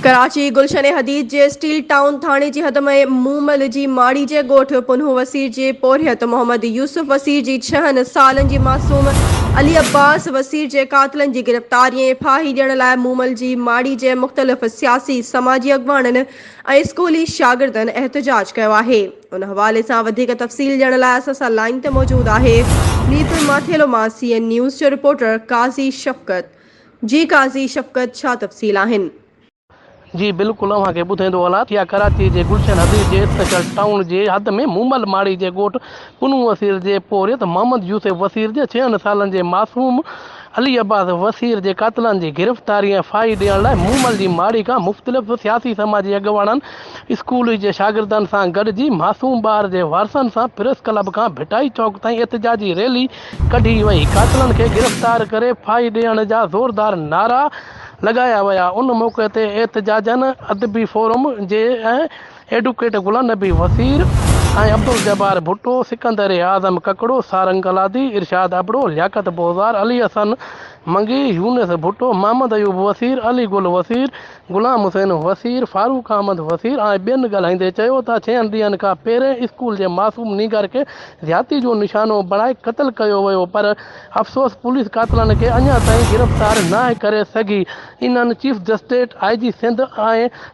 ڪراچي، گلشن حديد جي steel town ٿاڻي جي حد ۾ مومل جي ماڙي جي ڳوٺ پنهون وسيع جي پورهيت محمد يوسف وسيع جي ڇهن سالن جي معصوم علي عباس وسيع جي قاتلن جي گرفتاري ۽ ڦاهي ڏيڻ لاء مومل جي ماڙي جي مختلف سياسي سماجي اڳواڻن ۽ اسڪولي شاگردن احتجاج ڪيو آهي ان حوالي سان وڌيڪ تفصيل ڏيڻ لاء اسان سان لائين تي موجود آهي ميرپور ماٿيلو مان سي اين نيوز جو رپورٽر قاضي شفقت جي قاضي شفقت ڇا تفصيل آهن؟ جي بلڪل اوهان کي ٻڌائيندو هلان ٿي اها ڪراچي جي گلشن حديث جي اسپيشل ٽائون جي حد ۾ مومل ماڙي جي ڳوٺ پنهون وسير جي پورهيت محمد يوسف وسير جي ڇهن سالن جي معصوم علي عباس وسير جي قاتلن جي گرفتاري ۽ ڦاهي ڏيڻ لاء مومل جي ماڙي کان مختلف سياسي سماجي اڳواڻن اسڪول جي شاگردن سان گڏجي معصوم ٻار جي وارثن سان پريس ڪلب کان ڀٽائي چوڪ تائين احتجاجي ريلي ڪڍي وئي، قاتلن کي گرفتار ڪري ڦاهي ڏيڻ جا زوردار نعرا لڳايا ويا، ان موقعي تي احتجاجين ادبي فورم جي ۽ ايڊوڪيٽ غلام نبي وزير ۽ عبدالجبار ڀٽو، سڪندر اعظم ڪڪڙو، سارنگ گلادي، ارشاد ابڙو، لياقت بوزدار، علي حسن منگي، يونس ڀٽو، محمد ايوب وزير، علي گل وزير، غلام حسين وسير، فاروق احمد وسير ۽ ٻين ڳالهائيندي چيو ته ڇهن ڏينهن کان پهرين اسڪول جي معصوم نينگر کي زيادتي جو نشانو بڻائي قتل ڪيو ويو پر افسوس پوليس قاتلن کي اڃا تائين گرفتار ناهي ڪري سگهي انهن چيف جسٽيٽ، آء جي سنڌ ۽